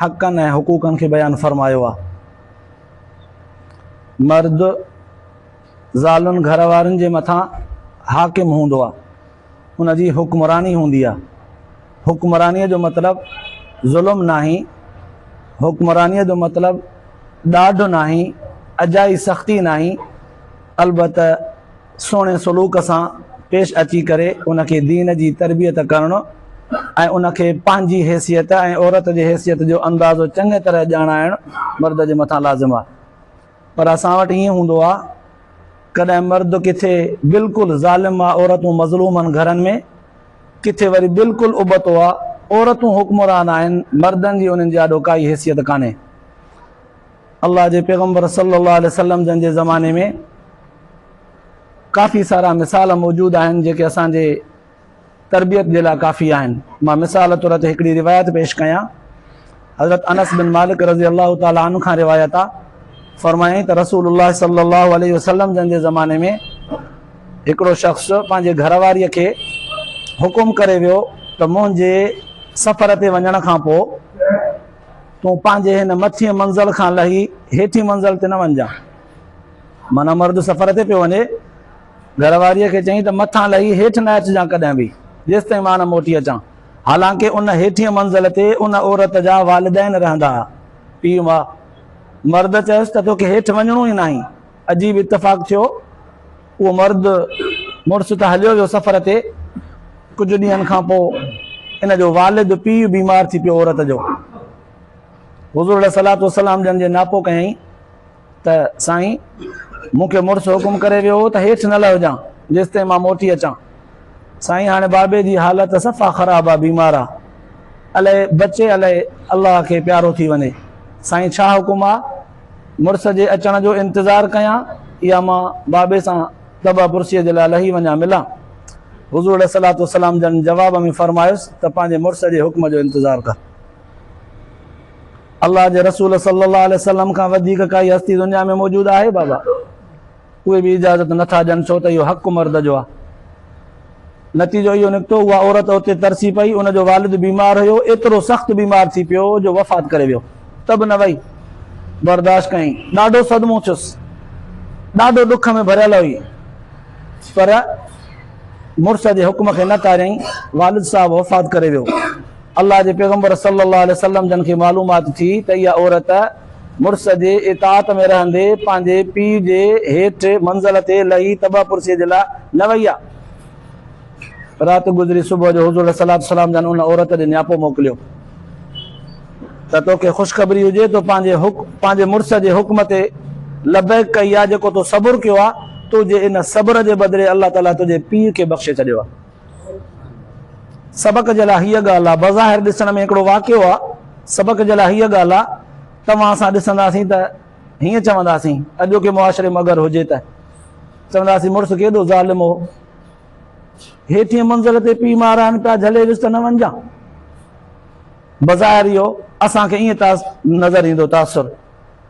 حقن ۽ حقوقن کي بيان فرمايو آهي. مرد زالن گهر وارين جي مٿان حاڪم هوندو آهي. ان جي حڪمراني هوندي آهي. حڪمرانيء جو مطلب ظلم ناهي، حڪمرانيء جو مطلب ڏاڍ ناهي، اجائي سختي ناهي، البته سهڻي سلوڪ سان پيش اچي ڪري ان کي دين جي تربيت ڪرڻ ۽ ان کي پنهنجي حيثيت ۽ عورت جي حيثيت جو اندازو چڱي طرح ڄاڻائڻ مرد جي مٿان لازم آهي پر اسان وٽ ائين هوندو آهي ڪڏهن مرد ڪٿي بلڪل ظالم آهي عورتون مظلوم آهن گهرن ۾ ڪٿي وري بلڪل ابتو آهي عورتون حڪمران آهن مردن جي انهن جي آڏو ڪائي حيثيت ڪانهي الله جي پيغمبر صلي الله عليه وسلم جن جي زماني ۾ ڪافي سارا مثال موجود آهن جيڪي اسان جي تربيت جي لاء ڪافي آهن مان مثال طور تي هڪڙي روايت پيش ڪيان حضرت انس بن مالڪ رضي الله تعالي عنه کان روايت آ فرمائين ته رسول الله صلي الله عليه وسلم جن جي زماني ۾ هڪڙو شخص پنهنجي گهر واري کي حڪم ڪري ويو ته منهنجي سفر تي وڃڻ کان پوء تون پنهنجي هن مٿين منزل کان لهي هيٺين منزل تي نه وڃجان معنيٰ مرد سفر تي پيو وڃي گهر واريء کي چيائين ته مٿان لهي هيٺ نه اچجان ڪڏهن به جيستائين مان نه موٽي اچان حالانڪه ان هيٺين منزل تي ان عورت جا والدين رهندا ها پيء ماء مرد چيس ته توکي هيٺ وڃڻو ئي ناهي عجيب اتفاق ٿيو اهو مرد مڙس ته هليو ويو سفر تي، ڪجهه ڏينهن کان پوء ان جو والد پيء بيمار ٿي پيو عورت جو. حضور عليه الصلاة والسلام جن جي ناپو ڪيائين ته سائين مون کي مڙس حڪم ڪري ويو هو ته هيٺ نه لهجان جيستائين مان موٽي اچان. سائين هاڻي بابي جي حالت صفا خراب آ بيمار آ الائي بچي الائي الله کي پيارو ٿي وڃي سائين ڇا حڪم آ؟ مڙس جي اچڻ جو انتظار ڪيان يا مان بابي سان طبع پرسيء جي لاء لهي وڃان ملان؟ حضور عليه الصلوة والسلام جن جواب ۾ فرمايس ته پنهنجي مڙس جي حڪم جو انتظار ڪر. الله جي رسول صلّي الله عليه وسلّم کان وڌيڪ ڪائي هستي دنيا ۾ موجود آهي بابا؟ اهي به اجازت نه ٿا ڏين ڇو ته اهو حق مرد جو آهي. نتيجو اهو نڪتو اها عورت اتي ترسي پئي، ان جو والد بيمار هيو، ايترو سخت بيمار ٿي پيو جو وفات ڪري ويو ته به نه وئي برداشت ڪيائين، ڏاڍو صدمو ٿيس، ڏاڍو ڏک ۾ ڀريل هئي پر مڙس جي حڪم کي نه ٽاريائين، والد صاحب وفات ڪري ويو، الله جي پيغمبر صلي الله عليه وسلم جن کي معلومات ٿي ته اها عورت مڙس جي اطاعت ۾ رهندي پنهنجي پيء جي هيٺ منزل تي لهي تبع پرسيء جي لاء نه وئي آ. رات گذري صبح جو حضور عليه الصلوة والسلام جن ان عورت ڏي نياپو موڪليو ته توکي خوشخبري هجي تو پنهنجي پنهنجي مڙس جي حڪم تي لبيڪ ڪئي آ جيڪو تو صبر ڪيو آ تنهنجي ان صبر جي بدلي الله تعاليٰ تنهنجي پيء کي بخشي ڇڏيو آ. سبق جي لاء هيء ڳالهه آ. بظاهر ڏسڻ ۾ هڪڙو واقعو آ. سبق جي لاء هيء ڳالهه آ. توهان اسان ڏسنداسين ته هيئن چونداسين، اڄوڪي معاشري ۾ اگر هجي ته چونداسين مڙس ڪيڏو ظالم هو. هيٺين منزل تي پيء ماء رهن پيا، جهلي وس ته نه وڃجان. بظاهر اهو اسان کي ائين نظر ايندو تاثر.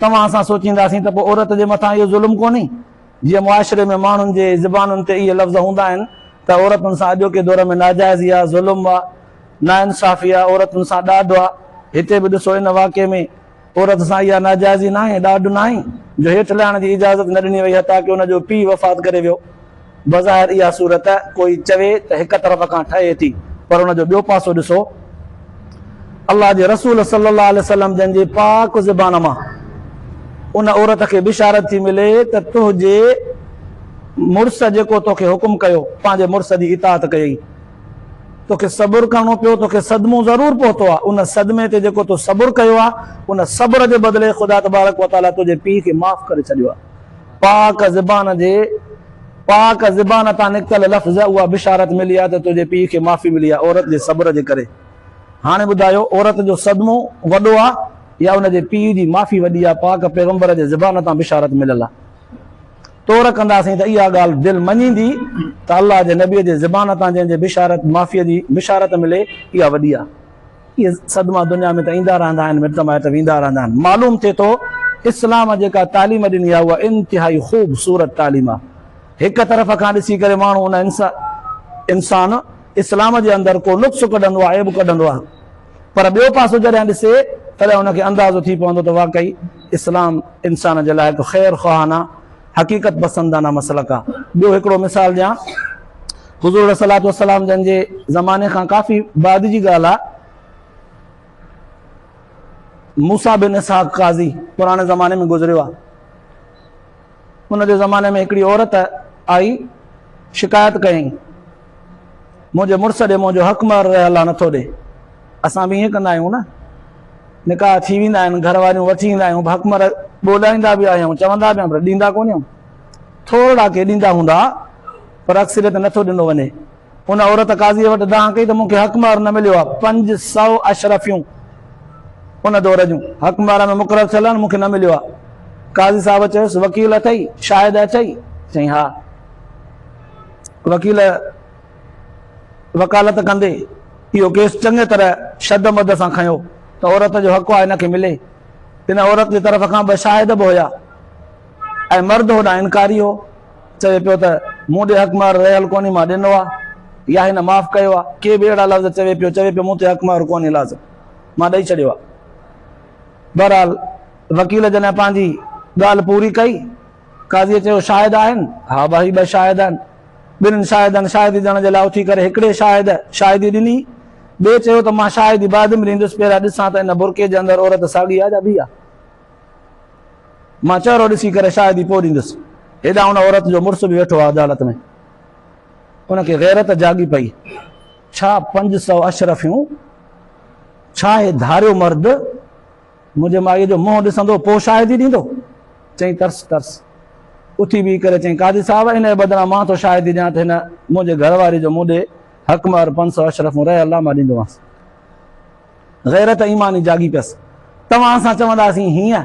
توهان سان سوچينداسين ته پوء عورت جي مٿان اهو ظلم ڪونهي؟ جيئن معاشري ۾ ماڻهن جي زبانن تي اهي لفظ هوندا آهن ته عورتن سان اڄوڪي دور ۾ ناجائزي آهي، ظلم آهي، ناانصافي آهي، عورتن سان ڏاڍ آهي. هتي به ڏسو ان واقعي ۾ عورت سان اها ناجائزي ناهي، ڏاڍ ناهي جو هيٺ لهڻ جي اجازت نه ڏني وئي حتيٰ ڪه ان جو پيء وفات ڪري ويو. بظاهر اها صورت ڪوئي چوي ته هڪ طرف کان ٺهي ٿي پر ان جو ٻيو پاسو ڏسو، الله جي رسول صلي الله عليه وسلم جن جي پاڪ زبان مان ان عورت کي بشارت ٿي ملي ته تنهنجي مڙس جيڪو توکي حڪم ڪيو پنهنجي مڙس جي اطاعت ڪيئي توکي صبر ڪرڻو پيو توکي صدمو ضرور پهتو آهي ان صدمي تي جيڪو تو صبر ڪيو آهي ان صبر جي بدلي خدا تبارڪ وتعالي تنهنجي پيء کي معاف ڪري ڇڏيو آهي. پاڪ زبان جي پاڪ زبان تان نڪتل لفظ اها بشارت ملي آ ته تنهنجي پيء کي معافي ملي آ عورت جي صبر جي ڪري هاڻي ٻڌايو عورت جو صدمو وڏو آ يا ان جي پيء جي معافي وڏي آ پاڪ پيغمبر جي زبان تان بشارت مليل آ تور ڪنداسين ته اها ڳالهه دل مڃيندي ته الله جي نبي جي زبان تان جنهن جي بشارت معافي جي بشارت ملي اها وڏي آ. اهي صدما دنيا ۾ ته ايندا رهندا آهن مٽ مائٽ ويندا رهندا آهن معلوم ٿئي ٿو اسلام جيڪا تعليم ڏني آهي اها انتهائي خوب صورت تعليم آهي هڪ طرف کان ڏسي ڪري ماڻهو ان انسان اسلام جي اندر ڪو نقص ڪڍندو آهي عيب ڪڍندو آهي پر ٻيو پاسو جڏهن ڏسي تڏهن ان کي اندازو ٿي پوندو ته واقعي اسلام انسان جي لاء هڪ خير خواهانه حقيقت پسندانه مسلڪ آ. ٻيو هڪڙو مثال ڏيان حضور عليه الصلوة والسلام جن جي زماني کان ڪافي بعد جي ڳالهه آ موسيٰ بن اسحاق قاضي پراڻي زماني ۾ گذريو آ ان جي زماني ۾ هڪڙي عورت آئي شڪايت ڪيائين. منهنجي مڙس ڏي منهنجو حق مهر رهيل آهي نٿو ڏي اسان به ائين ڪندا آهيون نه نڪاح ٿي ويندا آهن گهر واريون وٺي ايندا آهيون حق مهر ٻولائيندا به آهيون چوندا به آهيون ڏيندا ڪونه آهيون ٿورڙا ڪي ڏيندا هوندا پر اڪثريت نٿو ڏنو وڃي ان عورت قاضي وٽ دانهن ڪئي ته مونکي حق مهر نه مليو آهي پنج سو اشرفيون ان دور جون حق مهر ۾ مقرر ٿيل آهن مونکي نه مليو آهي قاضي صاحب چيس وڪيل اٿئي شاهد اٿئي چئي ها وڪيل وڪالت ڪندي اهو ڪيس چڱي طرح شد مد سان کنيو ته عورت جو حق آهي هن کي ملي. ان عورت جي طرف کان ٻه شاهد به هيا ۽ مرد هوڏانهن انڪاري هو، چوي پيو ته مون ڏي حق مهر رهيل ڪونهي مان ڏنو آهي يا هن معاف ڪيو آهي، ڪي به اهڙا لفظ چوي پيو، چوي پيو مون تي حق مهر ڪونهي لازم مان ڏئي ڇڏيو آهي. بهرحال وڪيل جڏهن پنهنجي ڳالهه پوري ڪئي. قاضيء چيو، شاهد آهن؟ ها ڀائي، ٻه شاهد آهن. ٻنهن شاهدن شاهدي ڏيڻ جي لاء اٿي ڪري هڪڙي شاهد شاهدي ڏني. ٻئي چيو ته مان شاهدي بعد ۾ ڏيندس، پهريان ڏسان ته ان برقعي جي اندر عورت ساڳي آهي جا ٻي آهي. مان چهرو ڏسي ڪري شاهدي پوء ڏيندس. هيڏانهن ان عورت جو مڙس به ويٺو آهي عدالت ۾. ان کي غيرت جاڳي پئي. ڇا پنج سؤ اشرفيون؟ ڇا هي ڌاريو مرد؟ منهنجي مائيء جو منهن ڏسندو پوء شاهدي ڏيندو؟ چئي ترس ترس اٿي بيهي ڪري چئي قاضي صاحب ان جي بدران مان ٿو شاهدي ڏيان ته هن منهنجي گهر واري جو مون ڏي حق مهر پنج سؤ اشرفون رهي الله مان ڏيندومانس. غيرت ايماني جاڳي پيس. توهان سان چونداسين هيئن.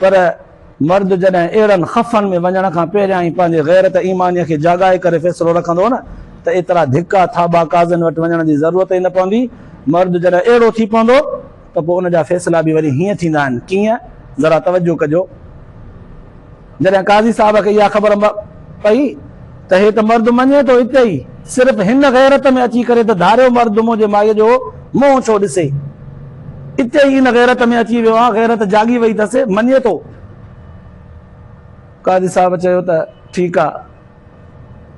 پر مرد جڏهن اهڙن خفن ۾ وڃڻ کان پهريان ئي پنهنجي غيرت ايمانيء کي جاڳائي ڪري فيصلو رکندو هو نه ته ايترا ڌڪا ٿاٻا قاضين وٽ وڃڻ جي ضرورت ئي نه پوندي. مرد جڏهن اهڙو ٿي پوندو ته پوء ان جا فيصلا به وري هيئن ٿيندا آهن. ڪيئن؟ ذرا توجه ڪجو. جڏهن قاضي صاحب کي اها خبر پئي. ته هي ته مرد مڃي ٿو اتي ئي صرف هن غيرت ۾ اچي ڪري ته ڌاريو مرد منهنجي مائيء جو منهن ڇو ڏسي. اتي ئي ان غيرت ۾ اچي ويو آهيان غيرت جاڳي وئي ٿس مڃي ٿو. قاضي صاحب چيو ته ٺيڪ آ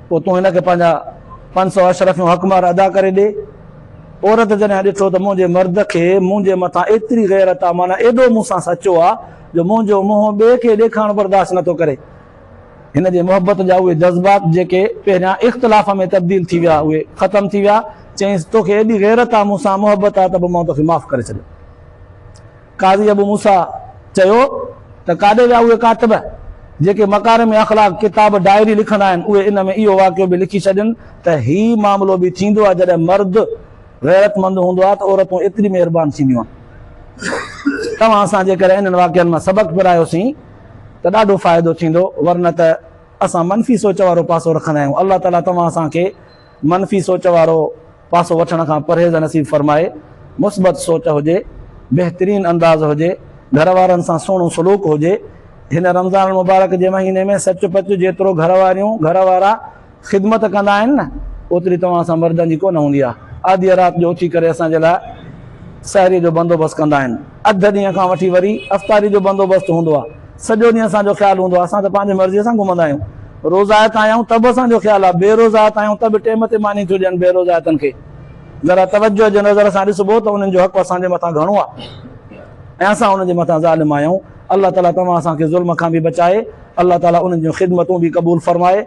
پوء تون هن کي پنهنجا پنج سؤ اشرفيون حق مهر ادا ڪري ڏي. عورت جڏهن ڏٺو ته منهنجي مرد کي منهنجي مٿان ايتري غيرت آ معنيٰ ايڏو مون سان سچو آ جو منهنجو منهن ٻئي کي ڏيکارڻ برداشت نه ٿو ڪري. هن جي محبت جا اهي جذبات جيڪي پهريان اختلاف ۾ تبديل ٿي ويا اهي ختم ٿي ويا، چيائينس تو کي ايڏي غيرت آ مون سان محبت آ ته به مون توکي معاف ڪري ڇڏيو. قاضي ابو موسيٰ چيو ته ڪاڏي ويا اهي ڪاتب جيڪي مڪارم اخلاق ڪتاب ڊائري لکندا آهن اهي ان ۾ اهو واقعو به لکي ڇڏين ته هي معاملو به ٿيندو آ جڏهن مرد غيرتمند هوندو آ ته عورتون ايتري مهربان ٿينديون آهن توهان اسان جي ڪري انهن واقعن مان سبق پرايوسين. ته ڏاڍو فائدو ٿيندو ورنه ته اسان منفي سوچ وارو پاسو رکندا آهيون الله تعالي توهان اسان کي منفي سوچ وارو پاسو وٺڻ کان پرهيز نصيب فرمائي مثبت سوچ هجي بهترين انداز هجي گهر وارن سان سهڻو سلوڪ هجي هن رمضان المبارڪ جي مهيني ۾ سچ پچ جيترو گهر واريون گهر وارا خدمت ڪندا آهن نه اوتري توهان سان مردن جي ڪونه هوندي آهي. آڌيء رات جو اٿي ڪري اسان جي لاء سحريء جو بندوبست ڪندا آهن. اڌ ڏينهن کان وٺي وري افطاريء جو بندوبست هوندو آهي. سڄو ڏينهن اسان جو خيال هوندو آهي. اسان ته پنهنجي مرضيء سان گهمندا آهيون. روزائت آهيون ته به اسان جو خيال آهي. بي روزائت آهيون ته به ٽيم تي ماني ٿيون ڏين بي روزائتن کي. ذرا توجهه جي نظر سان ڏسبو ته انهن جو حق اسان جي مٿان گهڻو آهي ۽ اسان انهن جي مٿان ظالم آهيون. الله تعاليٰ توهان اسان کي ظلم کان به بچائي. الله تعاليٰ انهن جون خدمتون به قبول فرمائي.